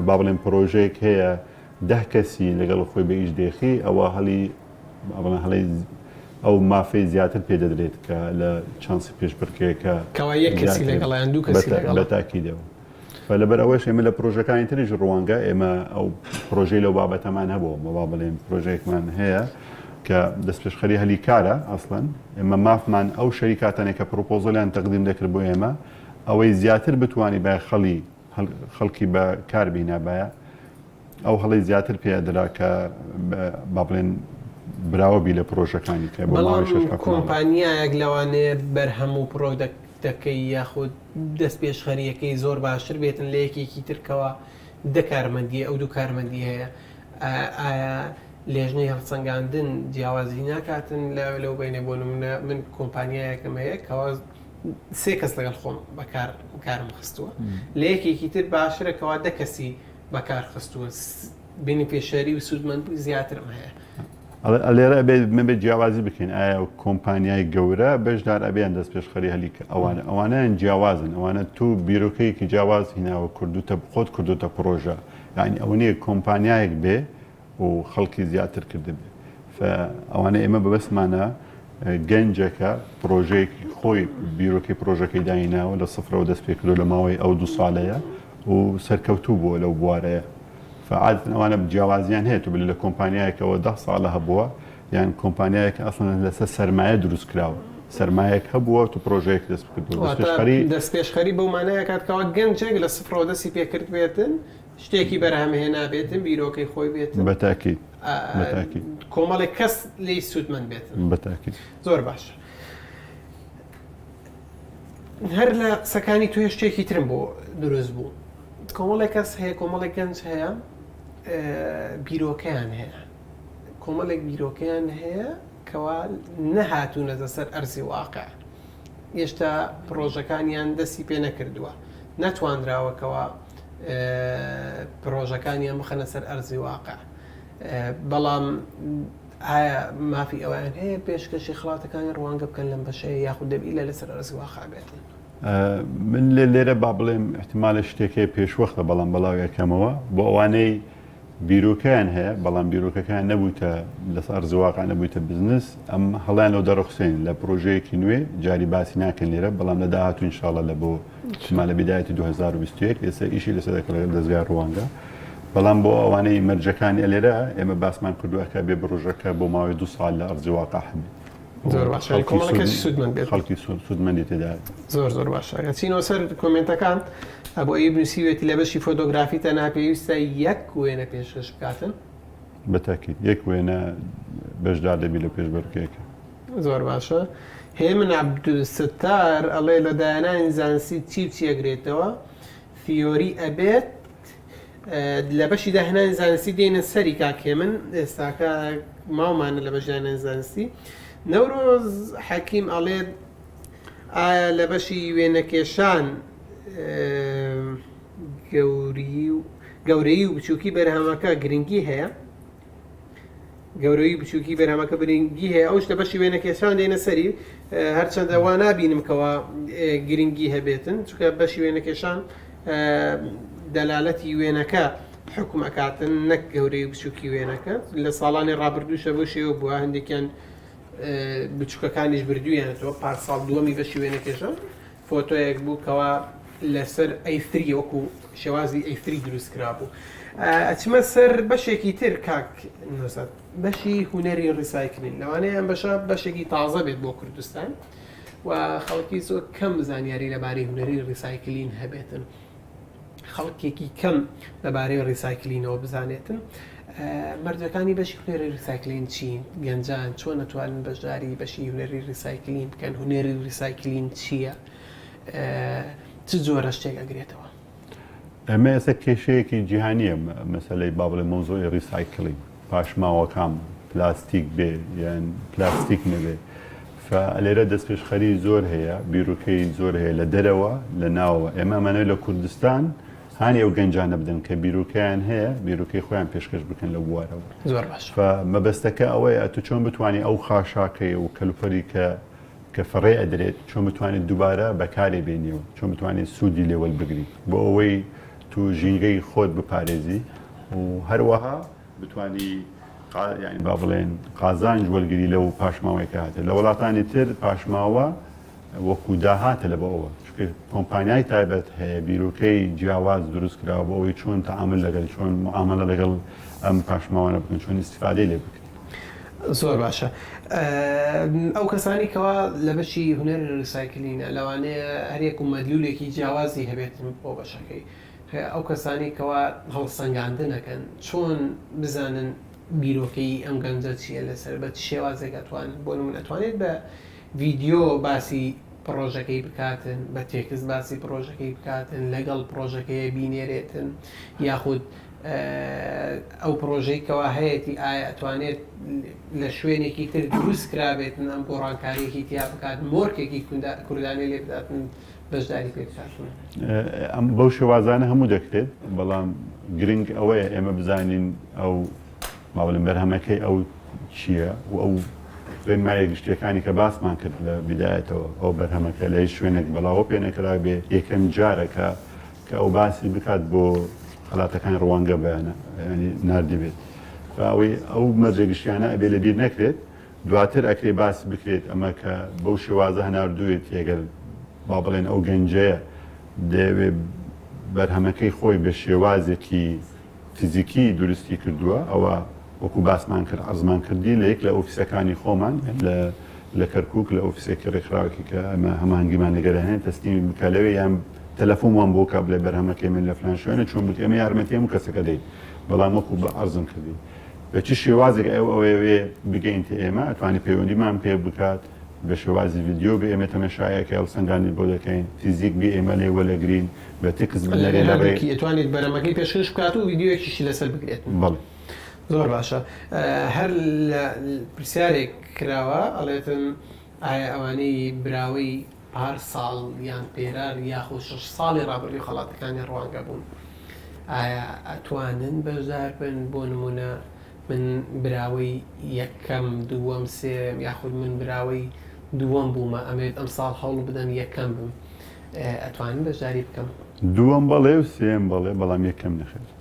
با بڵێن پرۆژێک هەیە ده کەسی لەگەڵ خۆی بە ئیش دێخی ئەوە هەڵی ئەڵە هەڵی ئەو مافی زیاتر پێ دەدرێت کە لە چانسی پێشبڕکێکە کەوا یەک کەسی
لەگەڵیان دوو کەسی لەگەڵ تاکیدەوە
و لەبەر ئەوەش ئێمە لە پرۆژەکانی تریش ڕوانگە ئێمە ئەو پرۆژەی لەو بابەتەمان هەبوو مەوا بڵێن پرۆژێکمان هەیە کە دەستپێشخەری هەلی کارە ئەسڵەن ئێمە مافمان ئەو شەریکاتانێک کە پرۆپۆزلیان تەقدیم دەکرد بۆ ئێمە ئەوەی زیاتر بتانی بە خەڵی خەڵکی بە کار بینابایە ئەو هەڵی زیاتر پێ درا کە با بڵێن براوە بی لە پرۆژەکانی کە بەڵاوی شش
کۆمپانیایەک لەوانەیە بەرهەم و پرۆدەکتەکەی یاخود دەستپێشخەرییەکەی زۆر باشتر بێتن لە یەکێکی تر کەوا دە کارمەندی ئەو دوو کارمەندی هەیە ئایا لێژنەی هەڵسەنگاندن جیاوازی ناکاتن لەو بینە بۆ نمونە من کۆمپانیایەکم هەیە کەوا سێ کەس لەگەڵ خۆم بەکار کارم خستووە لە یەکێکی تر باشترە کەوا دە کەسی بەکار خستووە بینیفیشەری و سوودمەندی زیاترم
هەیە. ئەڵێ لێرە ئەبێ مەبێ جیاوازی بکەین ئایا کۆمپانیای گەورە بەشدار ئەبێ یان دەستپێشخەری هەلی کە ئەوانە ئەوانیان جیاوازن ئەوانە تۆ بیرۆکەیەکی جیاواز هیناوە کردوتە خۆت کردوتە پڕۆژە یعنی ئەوە نیە کۆمپانیایەک بێ و خەڵکی زیاتر کردبێ ئەوانە ئێمە بەبەستمانە گەنجەکە پرۆژەیەکی خۆی بیرۆکی پرۆژەکەی دایناوە لە سفرەوە دەست پێکردو لە ماوەی ئەو دو ساڵەیە و سەرکەوتوو بووە لەو بوارەیە عادەتەن ئەوانە جیاوازیان هەیە تۆ بلی لە کۆمپانیایەکەوە دە ساڵە هەبووە یان کۆمپانیایەک ئەسڵن لەسەر سەرمایە دروست کراوە سەرمایەک هەبووە تو پرۆژەیەک دەست بکردوەری دەست پێشخەری
بەو مانایەکاتکەوە گەنجێک لە سفرەوە دەستی پێکرد بێتن شتێکی بەرهەمهێ نابێتن بیرۆکەی خۆی بێت بەتاکی
بەتاکی
کۆمەڵێک کەس لی سوودمەند بێت بەتاکی زۆر
باشە.
هەر لە قسەکانی تۆ شتێکی ترم بۆ دروست بوو کۆمەڵێک کەس هەیە کۆمەڵێک گەنج هەیە بیرۆکەیان هەیە کۆمەڵێک بیرۆکەیان هەیە کەوا نەهاتوونەتە سەر ئەرزی واقع هێشتا پرۆژەکانیان دەستی پێ نەکردووە نەتوانراوەکەوە پرۆژەکانیان بخەنە سەر ئەرزی واقع بەڵام ئایا مافی ئەوەیان هەیە پێشکەشی خڵاتەکانی ڕوانگە بکەن لەم بەشەیە یاخود دەبی ئیلا لەسەر ئەرزی واقع
بێتن؟ من لێ لێرە با بڵێم احتمالە شتێک هەیە پێشوەختە بەڵام بەڵاوی ئەکەمەوە بۆ ئەوانەی بیرۆکەیان هەیە بەڵام بیرۆکەکان نەبووتە لەس ئەرزی واقع نەبوویتە بزنس ئەم هەڵیان لەو دەڕخسێن لە پرۆژەیەکی نوێ جاری باسی ناکەن لێرە بەڵام لە داهاتوو انشاءاللە لە بۆ چما لە بدایەتی 2021 ئێستا ئیشی لەسەر دەکەڵێت لە دەستگای ڕوانگە بەڵام بۆ ئەوانەی مەرجەکانی ئەلێرە ئێمە باسمان کردوەکە بێ بڕژەکە بۆ ماوەی دو سال لە ئەرزیواقع هەبێت
خەڵکی سوودمەندی تێدا
زۆر زۆر باشە
چینەوە سەر کۆمنتەکان ئەبۆ ئیب نووسیوێتی لە بەشی فۆتۆگرافی تە ناپێویستە یەک وێنە پێشش بکاتن بەتاکیت
یەک وێنە بەشدار دەبی لە پێشبەرکێکە زۆر باشە
هێمن عبدالستار ئەڵێ لە داهێنانی زانستی چی و چی ئەگرێتەوە ثیۆری ئەبێت لە بەشی داهێنانی زانستی دێنە سەری کاک هێمن ئێستاکە ماومانە لە بەشی داهێنانی زانستی نەورۆز حەکیم ئەڵێت ئایا لە بەشی وێنەکێشان گەوری و گەورەی و بچووکی بەرهەمەکە گرنگی هەیە گەورەوی بچوکی بەرهەمەکە برینگی هەیە ئەوش لە بەشی وێنە کێشان دێنە سەری هەرچەندە وا نبینم کەەوە گرنگی هەبێتن چکە بەشی وێنە کێشان دەلالەتی وێنەکە حکوم ئەکاتن نەک گەورەی بچوکی وێنەکە لە ساڵانی ڕابردووشە بۆ شێوە بووە هەندێکیان بچووکەکانیش بردوویانەوە پار ساڵ دووەمی بەشی وێنە کێشان فۆتۆیەک بوو کەوا لەسەر ئەی ثری وەکو شێوازی ئەی ثری دروست کرابوو ئەچمە سەر بەشێکی تر کاک نوزەت بەشی هوەری ڕیسایکلین لەوانەیە ئەم بەشە بەشێکی تازە بێت بۆ کوردستان و خەڵکی زۆر کەم زانیاری لەبارەی هوەری ڕیسایکلین هەبێتن خەڵکێکی کەم لەبارەی ڕیسایکلینەوە بزانێتن مردەکانی بەشی هونەری ریسایکلین چین گەنجان چۆن نەتوانن بەشداری بەشی هونەری ریسایکلین بکەن هونەری ریسایکلین چییە چ جۆرە شتێک ئەگرێتەوە ئەمە
ئێستا کێشەیەکی جیهانیە مەسلەی بابلێ مۆزۆی ریسایکلین پاشماوەکام پلاستیک بێ یان پلاستیک نەبێ لێرە دەستپێشخەری زۆر هەیە بیرروکەی زۆر هەیە لە دەرەوە لە ناوە ئێمە ئەمانەوە لە کوردستان هاانی ئەو گەنجانە بدەن کە بیرروکەیان هەیە بیرروکەی خۆیان پێشکەش بکەن لە بوارەوە زۆر باش
مەبەستەکە
ئەوەیە تو چۆن بتانی ئەو خاشاکەی و کەلوپەری کە کە فڕێ ئەدرێت چۆن بتوانێت دووبارە بەکارێ بێنیەوە چۆن بتوانێت سوودی لێوەل بگریت بۆ ئەوەی تو ژینگەی خۆت بپارێزی و هەروەها بتوانی قا یانی با بڵێن قازانج وەرگری لەو پاشماوەی کە هاتێ لە وڵاتانی تر پاشماوە وەکو داهاتە لە بەوە چونکە کۆمپانیای تایبەت هەیە بیرۆکەی جیاواز دروست کراوە بۆ ئەوەی چۆن تەعامل لەگەل چۆن معاملە لەگەڵ ئەم پاشماوانە بکەن چۆن ئیستیفادەی لێ بکەن زۆر
باشە ئەو کەسانی کەوا لە بەشی هونەر ریسایکلینە لەوانەیە هەریەک و مەدلولێکی جیاوازی هەبێت بۆ بەشەکەی ئەو کەسانی کەوا هەڵسەنگاندنەکەن چۆن بزانن بیرۆکەی ئەم گەنجە چییە لەسەر بە چ شێوازێک ئەتوانن بۆ نمونە ئەتوانێت بە ڤیدیۆ باسی پڕۆژەکەی بکاتن بە تێکست باسی پڕۆژەکەی بکاتن لەگەڵ پڕۆژەکەی بینێرێتن یاخود ئەو پرۆژەی کەوا هەیەتی ئایا ئەتوانێت لە شوێنێکی تر دروست کرابێتن ئەم گۆڕانکاریەکی تیا بکات مۆرکێکی کوردانی لێ بداتن بەشداری پێ بکاتن ئەم بەو
شێوازانە هەموو دەکرێت بەڵام گرنگ ئەوەیە ئێمە بزانین ئەو ماوەلم بەرهەمەکەی ئەو چییە و ئەو ڕێنمایە گشتیەکانی کە باسمان کرد لە بدایەتەوە ئەو بەرهەمەکە لە هیچ شوێنێک بەڵاوە پێنەکرا بێ یەکەم جارەکە کە ئەو باسی بکات بۆ خەلاتەکانی روانگە بەیانە یانی ناردبێت بە ئەوەی ئەو مەرجە گشتیانە ئەبێ لە بیر نەکرێت دواتر ئەکرێ باس بکرێت ئەمە کە بەو شێوازە هەناردوێتی ئەگەر با بڵێن ئەو گەنجەیە دەیەوێ بەرهەمەکەی خۆی بە شێوازێکی فیزیکی دروستی کردووە ئەوە وەکو باسمان کرد عەرزمان کردی لە یەک لە ئۆفیسەکانی خۆمان لە لە کەرکک لە ئۆفیسێکی ڕێکخراوکی کە ئەمە هەمانگیمان لەگەرانێن تەسلیمی بکە لەوێ یان تەلەفۆم وام بۆ کا بڵێ بەرهەمەکەی من لە فلان شوێنە چۆن بوت ئێمە یارمەتی هەموو کەسەکە دەین بەڵام وەکو بە عەرزم کردی بە چی شێوازێک ئەو ئەوێ بگەین تە ئێمە ئەتوانی پەیوەندیمان پێ بکات بە شێوازی ڤیددیو بە ئێمە تەمەشایەکە هەڵسەنگانی بۆ دەکەین فیزیک بێ ئێمە لێ وەلەگرین بە تکس بنەرێ لە ڕێ توانێت بەرەمەکەی
پێشکەش بکات و ڤیددیوەکیشی لەسەر بگرێت بڵێ
زۆر باشە
هەر لە پرسیارێک کراوە ئەڵێتن ئایا ئەوانەی براوەی پار ساڵ یان پێرار یاخود شەش ساڵی ڕابردوو خەڵاتەکانی ڕوانگە بوون ئایا ئەتوانن بەشدار بن بۆ نمونە من براوەی یەکەم دووەم سێم یاخود من براوەی دووەم بوومە ئەمەوێت ئەمساڵ هەوڵ بدەم یەکەم بم ئەتوانم بەشداری بکەم؟
دووەم
بەڵێ و سێیەم
بەڵێ بەڵام یەکەم نەخێر.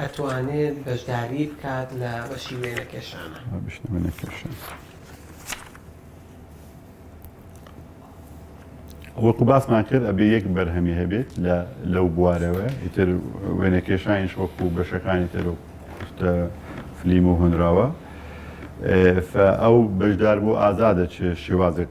ئەتوانێت بەشداری بکات لە بەشی
وێنەکێشانە. وەکو باسمان کرد ئەبێ یەک بەرهەمی هەبێت لەو بوارەوە ئیتر وێنەکێشانیش وەکو بەشەکانی تر و فلیم و هۆنراوە ئەو بەشدار بۆ ئازادە چ شێوازێک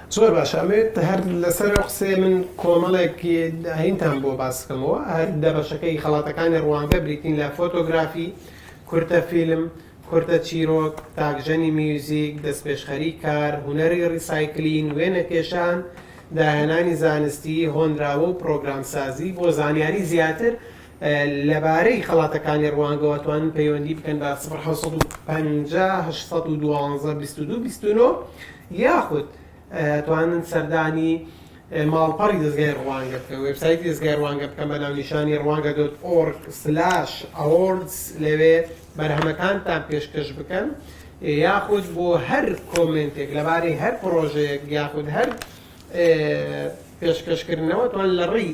زۆر باشە ئەمەوێت
هەر لەسەر ئەو قسەیە من کۆمەڵێک ئاینتان بۆ باس بکەمەوە هەر دە بەشەکەی خەڵاتەکانی ڕوانگە بریتین لە فۆتۆگرافی، کورتە فیلم، کورتە چیرۆک، تاکژەنی میوزیک، دەستپێشخەری کار، هونەری ڕیسایکلین، وێنەکێشان، داهێنانی زانستی، هۆنراوە و پرۆگرامسازی، بۆ زانیاری زیاتر لەبارەی خەڵاتەکانی ڕوانگەوە توانن پەیوەندی بکەن بە سفر حەوت سەد و پەنجا هەشت سەد و دوانزە بیست و دوو بیست و نۆ یاخود توانن سەردانی ماڵپەڕی دەزگای ڕوانگە بکەن وێبسایتی دەزگای ڕوانگە بکەن بە ناونیشانی ڕوانگە دۆت ئۆرگ سلاش ئەوۆردز لەوێ بەرهەمەکانتان پێشکەش بکەن یاخود بۆ هەر کۆمنتێک لەبارەی هەر پرۆژەیەک یاخود هەر پێشکەشکردنەوە توان لە ڕێی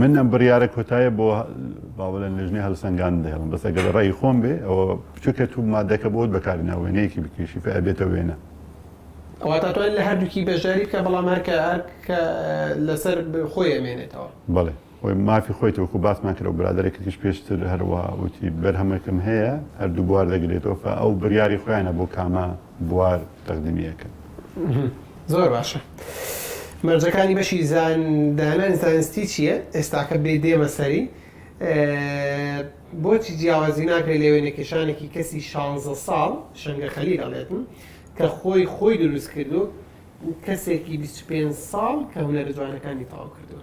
من ئەم بڕیارە کۆتایە بۆ با بڵێن لێژنەی هەلسەنگان دەهێڵم بەس ئەگەر ڕێی خۆم بێ ئەوە بچووکە تو مادەکە بۆت بەکاری نا وێنەیەکی بکێشی فە ئەبێتە وێنە. واتە توانی لە هەردووکی بەشداری
بکە بەڵام هەر کە هەر کە لەسەر خۆی ئەمێنێتەوە. بەڵێ خۆی
مافی خۆیەتی وەکو باسمان کرد و برادەرێکیش پێشتر هەروا وتی بەرهەمەکم هەیە هەردوو بوار دەگرێتەوە فە ئەو بڕیاری خۆیانە بۆ کامە بوار تەقدیمی ئەکەن.
زۆر باشە مەرجەکانی بەشی زان دانانی زانستی چیە ئێستاکە بێ دێمە سەری بۆچی جیاوازی ناکرێت لە وێنە کێشانێکی کەسی شانزە ساڵ شەنگە خەلیل ئەڵێتن کە خۆی خۆی دروست کردووە و کەسێکی بیست و پێنج ساڵ کە هونەرە جوانەکانی تەواو کردووە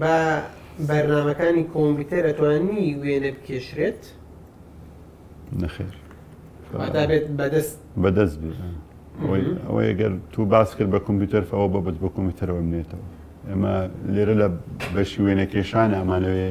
بە بەرنامەکانی کۆمپیوتەر ئەتوانی وێنە بکێشرێت
نەخێر
واتا بێت بەدەست
بەدەست بێت ئەوەی گەر تو باس کرد بە کۆمپیوتەر ئەوە بەبت بە کۆمپیوتەرەوە نێتەوە ئێمە لێرە لە بەشی وێنەکێشان ئەمانەوێ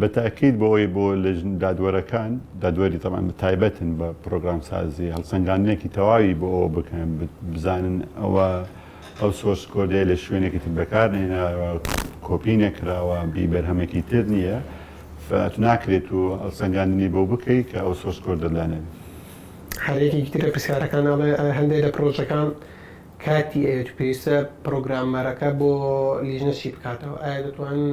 بە تاکید
بۆ ئەوەی بۆ لجنە دادوەرەکان، دادوەری تەبعەن تایبەتن بە پرۆگرامسازی، هەڵسەنگاندنێکی تەواوی بۆ ئەوە بکەن بزانن ئەوە ئەو سۆرس کۆدەیە لە شوێنێکی تر بەکار نەهێناوە، کۆپی نەکراوە، بی بەرهەمێکی تر نییە، فەت ناکرێت و هەڵسەنگاندنی بۆ بکەی کە ئەو سۆرس کۆدەت لا نەبێت. هەر یەکێکی
تر لە پرسیارەکان ئەڵێ، هەندێک لە پرۆژەکان کاتی ئەوێت و پێویستە پرۆگرامەرەکە بۆ لیژنە چی بکاتەوە؟ ئایا دەتوانن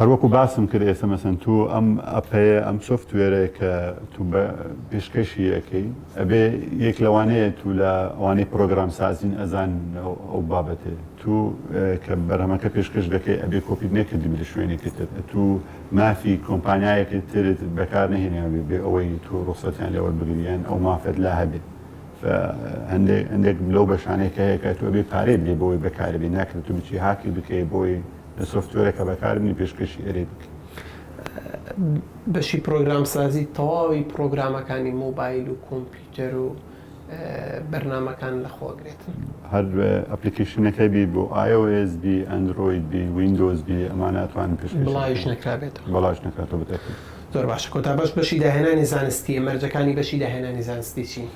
هەروەکو باسم کرد ئێستا مەسەن تو ئەم ئەپەیە ئەم سۆفتوێرەیە کە تو بە پێشکەشی ئەکەی ئەبێ یەک لەوانەیە تو لە ئەوانەی پرۆگرام سازین ئەزان ئەو بابەتەیە تو کە بەرهەمەکە پێشکەش دەکەی ئەبێ کۆپیت نەکردبی لە شوێنێکی تر ئەتو مافی کۆمپانیایەکی ترت بەکار نەهێنابی بێ ئەوەی تو ڕوخسەتیان لێ وەربگری یان ئەو مافەت لا هەبێ فە هەندێک هەندێک لەو بەشانەی کە هەیە کە تو ئەبێ پارەی بدەی بۆی بەکاربی ناکرێ تو بچی هاکی بکەی بۆی لە سۆفتوێرە کە بەکاربنی پێشکەشی ئەرێ بکەی. بەشی
پرۆگرام سازی تەواوی پرۆگرامەکانی مۆبایل و کۆمپیوتەر و بەرنامەکان لە خۆ ئەگرێت. هەر
ئەپلیکەیشنەکە بی بۆ iOS بی ئەندرۆید بی ویندۆز بی ئەمانە ئەتوانن پێشکەشی بکەن. بڵاویش
نەکرابێتەوە. بڵاویش نەکرابێتەوە
بەتاکی. زۆر باشە کۆتا
بەش بەشی داهێنانی زانستیە مەرجەکانی بەشی داهێنانی زانستی چین؟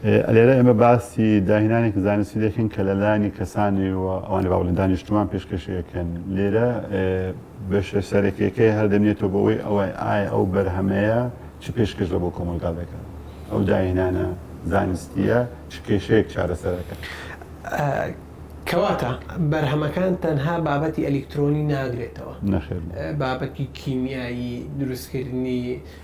لێرە ئێمە
باسی داهێنانێکی زانستی دەکەین کە لە لایەنی کەسانی و ئەوانی باوەڕ لە دانی نیشتمان پێشکەشی ئەکەن. لێرە بەشە سەرەکیەکەی هەر دەمێتەوە بەوەی ئەوەی ئایا ئەو بەرهەمەیە چ پێشکەش لە بۆ کۆمەڵگا دەکات؟ ئەو داهێنانە زانستیە چ کێشەیەک چارەسەر ئەکات؟ کەواتە
بەرهەمەکان تەنها بابەتی ئەلیکترۆنی ناگرێتەوە؟ نەخێر.
بابەتی
کیمیایی، دروستکردنی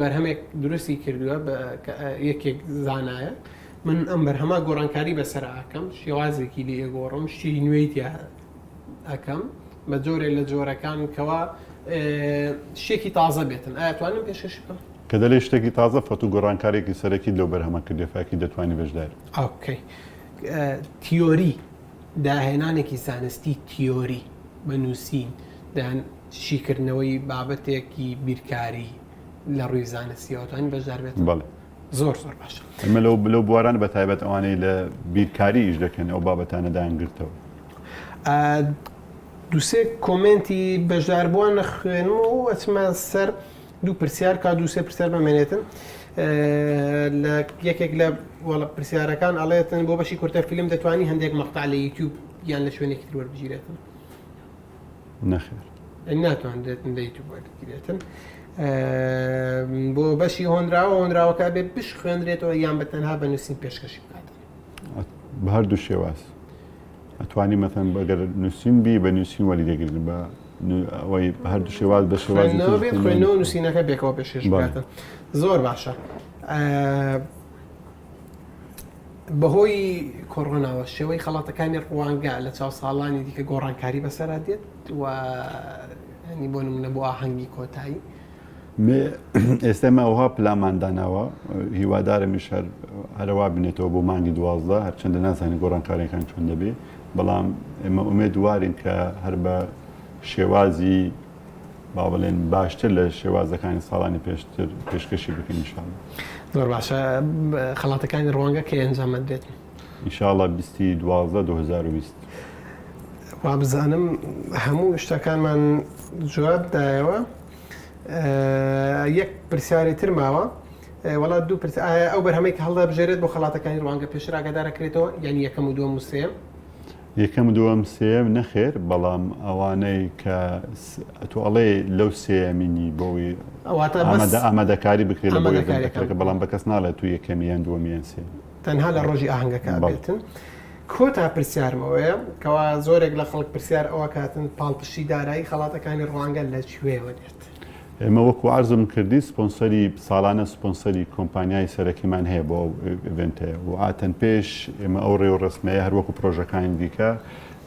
بەرهەمێک دروستی کردووە یەکێک زانایە من ئەم بەرهەما گۆڕانکاری بەسەر ئاکەم شێوازێکی لێ گۆڕم شتی نوێی تیا ئەەکەم بە جۆرێ لە جۆرەکان کەوا شتێکی تازە بێتن ئەتوانم پێشش بکەم کە دەلێ شتێکی تازە
فەت و گۆڕانکارێکی سەرەکی لەو بەرهەمە کردێ فاکی دەتوانانی بەشدار ئۆکەی
تیۆری داهێنانێکی زانستی تیۆری بە نووسین دان شیکردنەوەی بابەتێکی بیرکاری لە ڕووی زانستیەوە توانین بەشدار بێت بەڵێ زۆر
زۆر باش
ئەمە لەو بلو بواران
بە تایبەت ئەوانەی لە بیرکاریش دەکەن ئەو بابەتانە دایانگرتەوە
دوسێ کۆمنتی بەشدار بووە نەخوێنم و ئەچمان سەر دوو پرسیار کا دووسێ پرسیار بەمێنێتن لە یەکێک لە وەڵە پرسیارەکان ئەڵێتن بۆ بەشی کورتە فیلم دەتوانانی هەندێک مەقتا لە یوتیوب یان لە شوێنێکی تروەربگیرێتن
نەخێر. ناتوانرێت
لەی تو وەرگیرێتن بۆ بەشی هۆنراوە هۆنراوەکە بێ بشخوێنرێتەوە یان بە تەنها بە نووسین پێشکەشی بکات بە
هەردوو شێواز ئەتوانی مەتەن بەگەر نووسین بی بە نووسین وەلی دەگرن بە ئەوەی بە هەردوو شێواز بە شێواز خوێنەوە
نووسینەکە بێکەوە پێشێش بکاتن زۆر باشە بەهۆی کۆرۆناوە شێوەی خەڵاتەکانی ڕوانگە لە چاو ساڵانی دیکە گۆڕانکاری بەسەرا دێت و هەنی بۆ نمونە بۆ ئاهەنگی کۆتایی
ئێستا ماوەها پلامان داناوە هیوادارمیش هەر هەروا بنێتەوە بۆ مانگی دوازدە هەرچەندە نازانانی گۆڕانکارەکان چۆن دەبێ بەڵام ئێمە ئومێ دووارین کە هەر بە شێوازی با بڵێن باشتر لە شێوازەکانی ساڵانی پێشتر پێشکەشی بکەین انشاءاللە. زۆر باشە
خەڵاتەکانی ڕوانگە کەی ئەنجام ئەدرێت؟ انشاءاللە
بیستی دوازدە دوو هەزار و بیست.
وابزانم هەموو شتەکانمان جواب دایەوە یەک پرسیاری تر ماوە وەڵا دوو پرس ئایا ئەو بەرهەمەی کە هەڵدەبژێرێت بۆ خەڵاتەکانی ڕوانگە پێشتر ئاگادارەکرێتەوە یانی یەکەم و دووەم و سێیەم؟ یەکەم
دوەم سێیەم نەخێر بەڵام ئەوانەی کە ئەتو ئەڵێ لەو سێەمینی بۆی ئامادەکاری بکرێت لە بۆیەکەکە بەڵام بە کەس ناڵێت تو یەکەمیان دووەمیان سێ تەنها لە ڕۆژی
ئاهنگەکە بێتن کۆتا پرسیارمەوەیە کەوا زۆرێک لە خەڵک پرسیار ئەوە کاتن پاڵپشتی دارایی خەڵاتەکانی ڕوانگە لە کوێوە دێت. ئێمە وەکو
عەرزم کردی سپۆنسەری ساڵانە سپۆنسەری کۆمپانیای سەرەکیمان هەیە بۆ ئەو ئێڤێنتەیە و ئاتەن پێش ئێمە ئەو ڕێوڕەسمەیە هەر وەکو پرۆژەکانی دیکە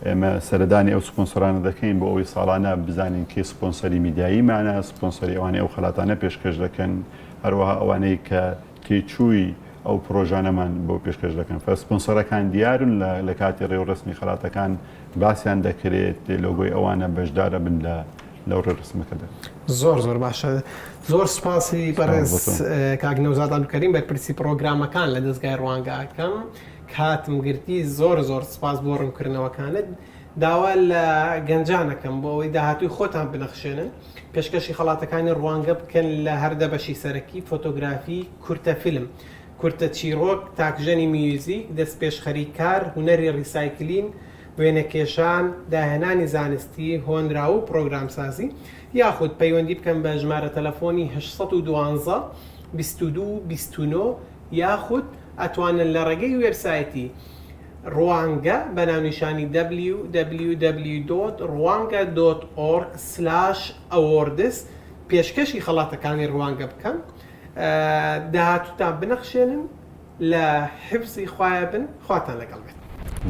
ئێمە سەردانی ئەو سپۆنسەرانە دەکەین بۆ ئەوی ساڵانە بزانین کێ سپۆنسەری میدیاییمانە سپۆنسەری ئەوانەی ئەو خەلاتانە پێشکەش دەکەن هەروەها ئەوانەی کە تێچووی ئەو پڕۆژانەمان بۆ پێشکەش دەکەن. سپۆنسەرەکان دیارن، لە کاتی ڕێوڕەسمی خەڵاتەکان باسیان دەکرێت، لۆگۆی ئەوانە بەشدار ئەبن لەو ڕێوڕەسمەکەدا. زۆر زۆر باشە.
زۆر سوپاسی بەڕێز کاک نەوزاد عەبدولکەریم بەرپرسی پڕۆگرامەکان لە دەزگای ڕوانگە ئەکەم. کاتم گرتی، زۆر زۆر سوپاس بۆ ڕوونکردنەوەکانت. داوا لە گەنجان ئەکەم بۆ ئەوەی داهاتووی خۆتان بنەخشێنن. پێشکەشی خەڵاتەکانی ڕوانگە بکەن لە هەر دە بەشی سەرەکی، فۆتۆگرافی، کورتە فیلم، کورتە چیڕۆک، تاکژەنی میوزیک، دەستپێشخەریی کار، هونەری ڕیسایکلین، وێنەکێشان، داهێنانی زانستی، هۆنراو و پڕۆگرامسازی، یاخود پەیوەندی بکەن بە ژمارە تەلەفۆنی هەشت سەد و دوازدە بیست و دوو بیست و نۆ یاخود ئەتوانن لە ڕێگەی وێبسایتی، ڕوانگە، بە ناونیشانی www دۆت ڕوانگە دۆت ئۆڕگ سلاش ئەوۆردس پێشکەشی خەڵاتەکانی ڕوانگە بکەن داهاتووتان بنەخشێنن لە حفزی خوایە بن خواتان لەگەڵ بێت.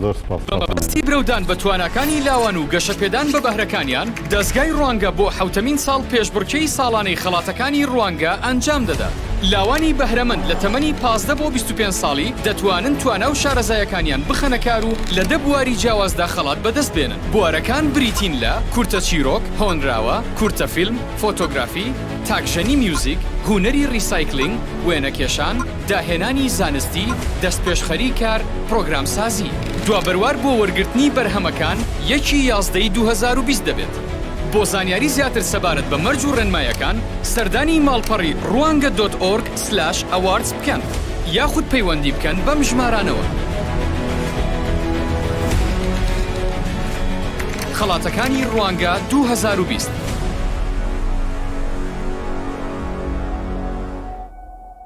زۆر سوپاس کاکە مەلا.
بە مەبەستی برەودان بە
تواناکانی لاوان و گەشەپێدان بە بەهرەکانیان، دەزگای ڕوانگە بۆ حەوتەمین ساڵ پێشبڕکێی ساڵانەی خەڵاتەکانی ڕوانگە ئەنجام دەدات. لاوانی بەهرەمەند لە تەمەنی پازدە بۆ بیست و پێنج ساڵی دەتوانن توانا و شارەزایەکانیان بخەنە کار و لە دە بواری جیاوازدا خەڵات بەدەست بێنن. بوارەکان بریتین لە، کورتە چیرۆک، هۆنراوە، کورتە فیلم، فۆتۆگرافی، تاکژەنی میوزیک، هونەری ڕیسایکلینگ، وێنەکێشان، داهێنانی زانستی، دەستپێشخەری کار، پرۆگرامسازی. دوا بەروار بۆ وەرگرتنی بەرهەمەکان یەک ی یازدە ی دوو هەزار و بیست دەبێت. بۆ زانیاری زیاتر سەبارەت بە مەرج و ڕێنمایەکان سەردانی ماڵپەڕی روانگە دۆت ئۆرگ سلاش ئەواردز بکەن یاخود پەیوەندی بکەن بەم ژمارانەوە. خەڵاتەکانی روانگە دوو هەزار و بیست.